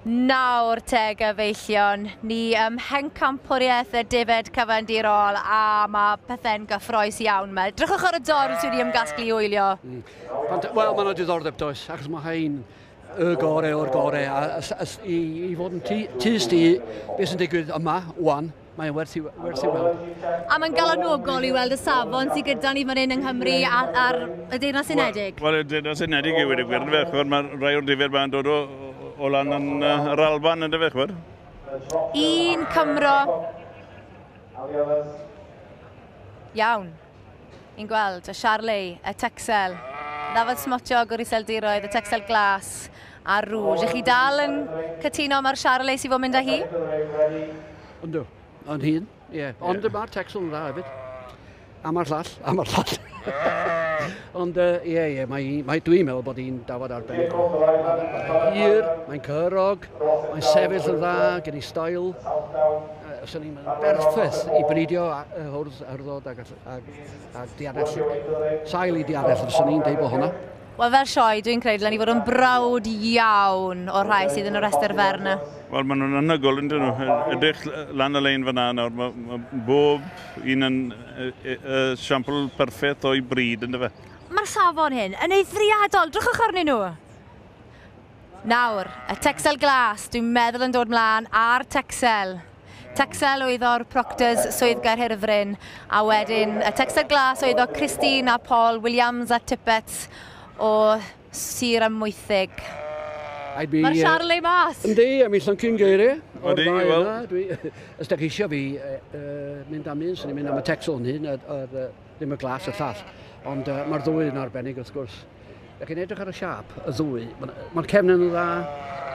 Nawr te gyfeillion, ni ym mhencampwriaeth y defaid cyfandirol a mae pethau'n gyffroes iawn yma. Drychwch ar y dorf sydd wedi ymgasglu i wylio. Mm. Wel, mae'n yna diddordeb does, achos mae hyn y gorau o'r gorau. A, a, a, i, i fod yn tys di beth sy'n digwydd yma, wan, Mae'n werth i, werth i weld. A mae'n galonogol i weld y safon sydd gyda ni fan hyn yng Nghymru a'r, ar y Deyrnas Unedig. Wel, y Deyrnas Unedig yw wedi gwir, yn fe, chwer, mae rhai o'r difyr mae'n dod o, o lan yn uh, yr Alban, yn fe, chwer. Un Cymro. Iawn. Yn gweld y Charley, y Texel, ddafod smotiog o'r iseldiroedd, y Texel glas a'r rŵj. Ych chi dal yn cytuno mae'r Charley sy'n fod mynd â hi? Ynddo, yn hun, ie. Yeah. Ond yeah. mae'r Texel yn dda hefyd. A mae'r llall, a mae'r llall. Ond ie, uh, ie, yeah, yeah, mae, mae dwi'n meddwl bod hi'n dafod arbennig. Mae'n hir, mae'n cyrog, Mae'n sefyll yn dda gen i stael. Os o'n i'n berffeth i bridio y hwrdd yrddod ag, ag, ag dianell. Sail i dianell, os o'n i'n deud bod hwnna. Wel, fel sioe, dwi'n credu dylen ni fod yn brawd iawn o'r rhai sydd yn y rhestr fer yna. Wel, maen nhw'n anhygoel, ydyn nhw. Edrych lan y lein fyna nawr, mae, mae bob un yn y, y, y siampl perffaith o'i bryd, ynddo fe? Mae'r safon hyn yn eithriadol. Drychwch arnyn nhw. Nawr, y Texel glas, dwi'n meddwl yn dod mlaen ar Texel. Texel oedd o'r Proctors Swydd Gaerhirfryn, a wedyn y Texel glas oedd o Christine a Paul Williams a Tippets o Sir Amwythig. Mae'r Charlie ei mas! Yndi, a mi llyncu'n geiriau. Yndi, wel. Os da chi eisiau fi mynd am un, sy'n ni'n mynd am y Texel yn hyn, Ddim y glas y llall, ond uh, mae'r ddwy yn arbennig wrth gwrs. Ydych chi'n edrych ar y siap, y ddwy, mae'r cefn yn dda,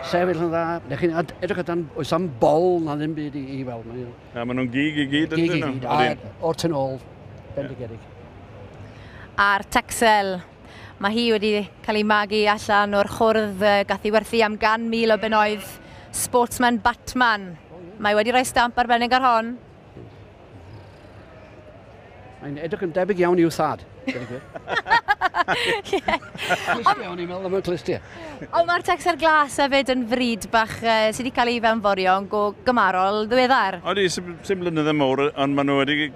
sefyll yn dda. Ydych chi'n edrych ar dan, oes am bol na ddim byd i, i weld. Mae na, maen nhw'n gig i gyd yn dyn nhw. O'r tyn ôl, bendigedig. A'r Texel, mae hi wedi cael ei magu allan o'r chwrdd gath ei werthu am gan mil o benoedd Sportsman Batman. Mae wedi rhoi stamp arbennig ar hon. Mae'n edrych yn debyg iawn i'w thad. Ond iawn i'n meddwl am y clystiau. Ond mae'r tecsar glas hefyd yn fryd bach uh, sydd wedi cael ei fewnforio yn go gymarol ddiweddar. Oeddi, sy'n sy'n blynydde mawr, ond maen nhw wedi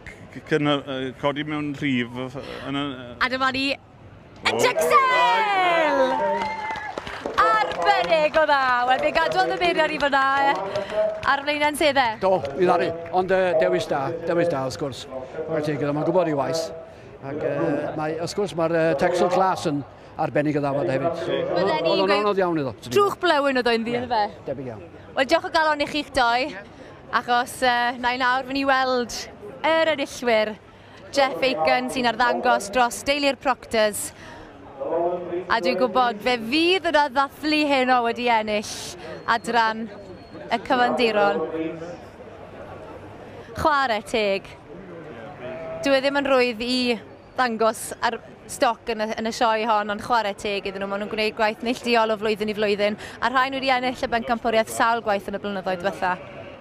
codi mewn rhif. Yn, uh... A dyma ni Dexel! Arbennig o dda. Wel, fe gadwodd y beiriau i fyna ar flaenau'n sedde. Do, i ddari. Ond uh, dewis da, dewis da, wrth gwrs. Mae'n teg iddo, mae'n gwybod ei waith. Ac uh, mae, wrth gwrs, mae'r uh, Texel Glas yn arbennig o ddafod hefyd. Oedd o'n anodd iawn iddo. Trwch blewyn oedd o'n ddi'r fe. Debyg iawn. Wel, diolch o galon i chi'ch doi, achos uh, na i nawr fy ni weld yr enillwyr. Jeff Aiken sy'n arddangos dros deulu'r Proctors. A dwi'n gwybod fe fydd yn addathlu heno wedi ennill adran y cyfandiron. Chwarae teg. Dwi e ddim yn rwydd i ddangos ar stoc yn y, yn y sioe hon, ond chwarae teg iddyn nhw. Maen nhw'n gwneud gwaith neillduol o flwyddyn i flwyddyn, a rhain wedi ennill y bencampwriaeth sawl gwaith yn y blynyddoedd diwetha.